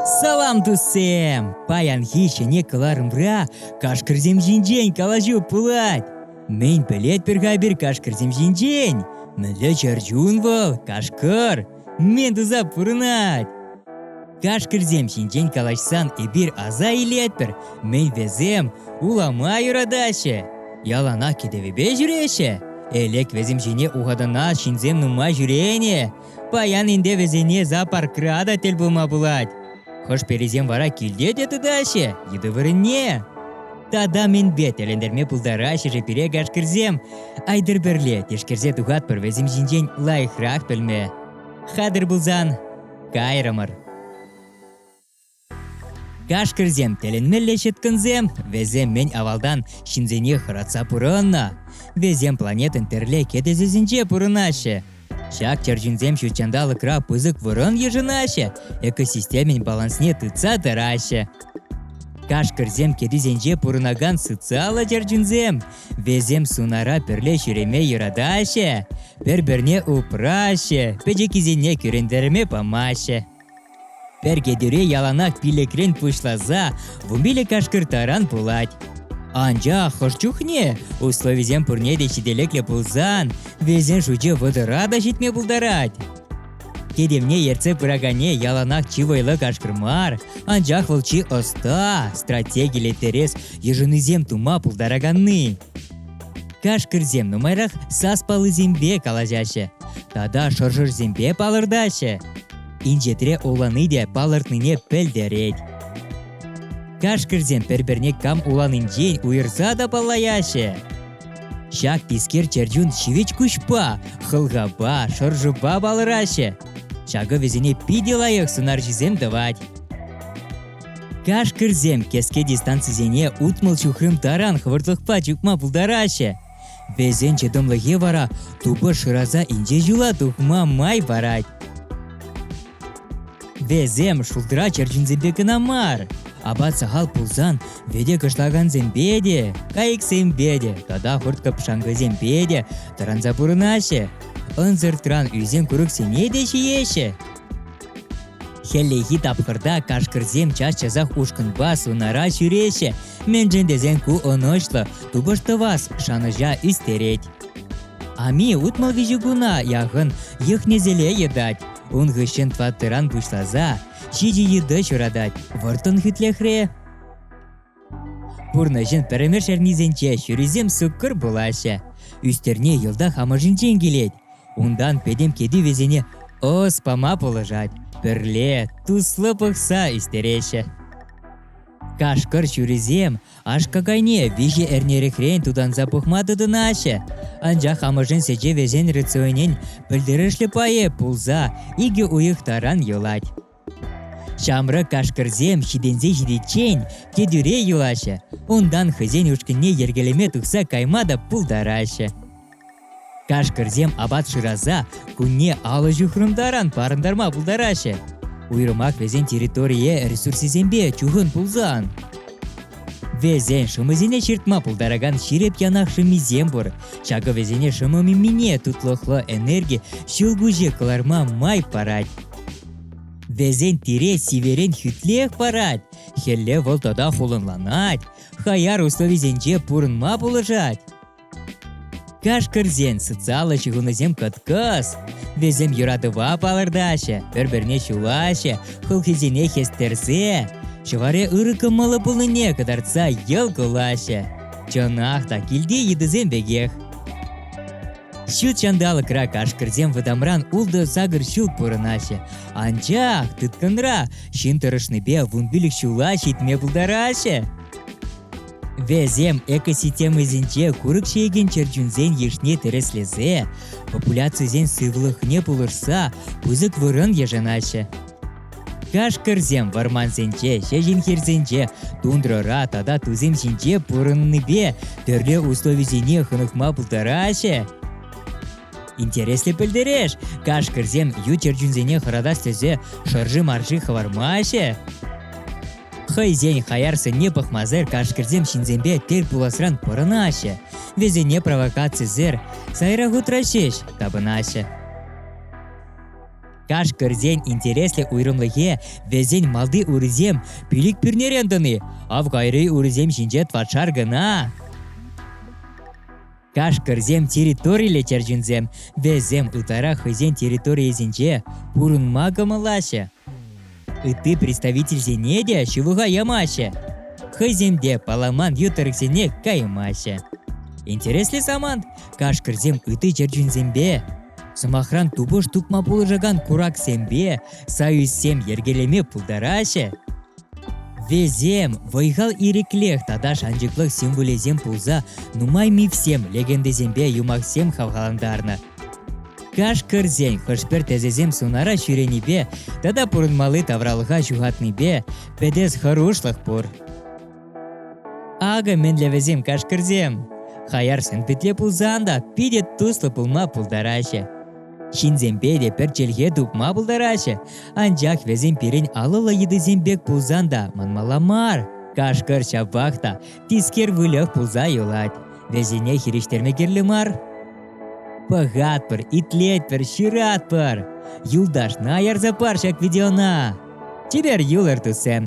Салам, туссем! Паянхи ҫӗне кӑларӑмра кашкӑрсем ҫинчен калаҫу пулать. Мӗн пӗлетпӗр-ха пир кашкӑрсем ҫинчен? Мӗнле чӗрчун вӑл, кашкӑр? Мӗн туса пурӑнать? Кашкӑрсем ҫинчен калаҫсан эпир аса илетпӗр, мӗн вӗсем улама юратаҫҫӗ, яланах кӗтӗвӗпе ҫӳреҫҫӗ. Элек вӗсем ҫине ухатӑнас ҫынсем нумай ҫӳренӗ. Паян ӗнтӗ вӗсене зоопаркра та тӗл пулма пулать. Хӑшперисем вара килте те тытаҫҫӗ йытӑ вырӑнне. Тата мӗнпе тӗлӗнтерме пултараҫҫӗ-ши пире гашкӑрсем? Айтӑр пӗрле тишкерсе тухатпӑр вӗсем ҫинчен лайӑхрах пӗлме. Хатӗр пулсан, кайрӑмӑр. Гашкӑрсем тӗлӗнмелле ҫыткӑнсем, вӗсем мӗн авалтан ҫынсене хӑратса пурӑннӑ. Вӗсем планетӑн пӗрле кӗтесӗсенче пурӑнаҫҫӗ. Ҫак чӗрчунсем ҫут ҫанталӑкра пысӑк вырӑн йышӑнаҫҫӗ, экосистемин балансне тытса тӑраҫҫӗ. Кашкӑрсем кӗтисенче пурӑнакан социаллӑ чӗрчунсем. Весем сунара пӗрле ҫӳреме юратаҫҫӗ, пӗр-пӗрне упраҫҫӗ, пӗчӗккисене кӳрентерме памаҫҫӗ. Пӗр кӗтӳре яланах пилӗкрен пуҫласа вумбиле кашкӑр таран пулать. Анчах хӑш чухне условисем пурне те ҫителӗклӗ пулсан вӗсен шучӗ вӑтӑра та ҫитме пултарать. Кӗтӗвне ертсе пыракане яланах чи вӑйлӑ кашкӑр мар, анчах вӑл чи ӑста, стратегиллӗ тӗрес йышӑнусем тума пултараканни. Кашкӑрсем нумайрах сас паллисемпе калаҫаҫҫӗ тата шӑршӑрсемпе палӑртаҫҫӗ. инҫетре улани те палӑртнине пӗлтерет. Кашкӑрсем пӗр-пӗрне кам уланинчен уйӑрса та паллаяҫҫӗ. Ҫак тискер чӗрчун ҫивӗч куҫпа, хӑлхапа, шӑршӑпа палӑраҫҫӗ. Ҫакӑ вӗсене питӗ лайӑх сунарҫӑсем тӑвать. Кашкӑрсем кӗске дистанцисене утмӑл ҫухрӑм таран хӑвӑртлӑхпа чупма пултараҫҫӗ. Вӗсен чӑтӑмлӑхӗ вара тупӑш шыраса инҫе ҫула тухма май парать. Вӗсем шултра черченсемпе кӑна мар, апат сахал пулсан вӗте кӑшлакансемпе те, кайӑксемпе те тата хурт-кӑпшанкӑсемпе те тӑранса пурӑнаҫҫӗ. Ӑнсӑртран ӳсен курӑксене те ҫиеҫҫӗ. Хӗллехи тапхӑрта кашкӑрсем час-часах ушкӑнпа сунара ҫӳреҫҫӗ, мӗншӗн тесен ку ӑнӑҫлӑ, тупӑш-тӑвас шанӑҫа ӳстерет. Ами утмӑл виҫӗ куна яхӑн йӑхнеселе йӑтать. Ун хыҫҫӑн тӑваттӑран пуҫласа ҫичӗ йытӑ ҫуратать. Вӑрттӑн хӳтлӗхре Пурнӑҫӑн пӗрремеш эрнисенче ҫурисем суккӑр пулаҫҫӗ. Ӳстерне йӑлтах амӑшӗнчен килет. Унтан пӗтӗм кӗтӳ вӗсене ӑс пама пулӑшать. Пӗрле туслӑ пӑхса ӳстереҫҫӗ. Кашкӑр ҫурисем аш-какайне виҫӗ эрнерехрен тутанса пӑхма тытӑнаҫҫӗ. Анчах амӑшӗн сечӗ вӗсен рационӗн пӗлтерӗшлӗ пайӗ пулса икӗ уйӑх таран юлать. Ҫамрӑк кашкӑрсем ҫитӗнсе ҫитиччен кӗтӳре юлаҫҫӗ, унтан хӑйсен ушкӑнне йӗркелеме тухса кайма та пултараҫҫӗ. Кашкӑрсем апат шыраса кунне алӑ ҫухрӑм таран парӑнтарма пултараҫҫӗ. Уйрӑмах вӗсен территорие ресурсӗсемпе чухӑн пулсан. Вӗсен шӑмӑсене ҫыртма пултаракан ҫирӗп янах шӑммисем пур. Ҫакӑ вӗсене шӑмӑ мимине тутлӑхлӑ энерги ҫӑлкуҫӗ кӑларма май парать. Везентире сиверен хӳтлех парать, хӗлле вӑл тата хулӑнланать, хаяр условисенче пурӑнма пулӑшать. Кашкӑрсен социаллӑ ҫыхӑнусем кӑткӑс. Вӗсем юратӑва палӑртаҫҫӗ, пӗр-пӗрне ҫулаҫҫӗ, хӑлхисене хӗстерсе, ҫӑваре ырӑ кӑмӑллӑ пулнине кӑтартса йӑл кулаҫҫӗ. Чӑнах та килти йытӑсем пекех. Ҫут ҫанталӑкра кашкӑрсем вӑтамран ултӑ сакӑр ҫул пурӑнаҫҫӗ. Анчах тыткӑнра ҫын тӑрӑшнипе вун пилӗк ҫула ҫитме пултараҫҫӗ. Вӗсем экосистемӑсенче курӑк ҫиекен чӗрчунсен йышне тӗрӗслесе, популяцисен сывлӑхне пулӑшса пысӑк вырӑн йышӑнаҫҫӗ. Кашкӑрсем вӑрмансенче, ҫеҫен хирсенче, тундрӑра тата тусем ҫинче пурӑннипе тӗрлӗ условисене хӑнӑхма пултараҫҫӗ. Интереслӗ пӗлтереш, кашкӑрсем ют чӗрчунсене хӑратас тесе шӑрши-марши хӑвармаҫҫӗ. Хӑйсен хаяр сӑнне пӑхмасӑр кашкӑрсем ҫынсемпе тӗл пуласран пӑрӑнаҫҫӗ, вӗсене провокацисӗр сайра хутраҫҫӗ, тапӑнаҫҫӗ. Кашкӑрсен интереслӗ уйрӑмлӑхӗ вӗсен малти урисем пилӗк пӳрнерен тӑни. Ав кайри урисем ҫинче тватшар кӑна. Кашкӑрсем территориллӗ чӗрчунсем. Вӗсем ытларах хӑйсен территорийӗсенче пурӑнма кӑмӑллаҫҫӗ. ытти представительсене те ҫывӑха ямаҫҫӗ. Хӑйсем те паламан ютӑрӑксене каймаҫҫӗ. Интереслӗ самант кашкӑрсем ытти чӗрчунсемпе, сӑмахран тупӑш тупма пулӑшакан кураксемпе союзсем йӗркелеме пултараҫҫӗ. Весем вӑй-хал ирӗклех тата шанчӑклӑх символӗсем пулса нумай мифсем, легендӑсемпе юмахсем хавхалантарнӑ. Каш кӗрсен хӑш-пӗр тӗсӗсем сунара ҫӳренипе тата пурӑнмалли тавралӑха ҫухатнипе пӗтес хӑрушлӑх пур. Акӑ мӗнле вӗсем кашкӑрсем. Хаярсем питле пулсан та питӗ туслӑ пулма пултараҫҫӗ. Ҫынсемпе те пӗр чӗлхе тупма пултараҫҫӗ, анчах вӗсем пирӗн алӑллӑ йытӑсем пек пулсан та манмалла мар. Кашкӑр ҫапах та тискер выльӑх пулса юлать. Вӗсене хирӗҫтерме кирлӗ мар. Пӑхатпӑр, итлетпӗр, ҫыратпӑр. Юлташна ярса пар ҫак видеона. Чипер юлӑр, туссем!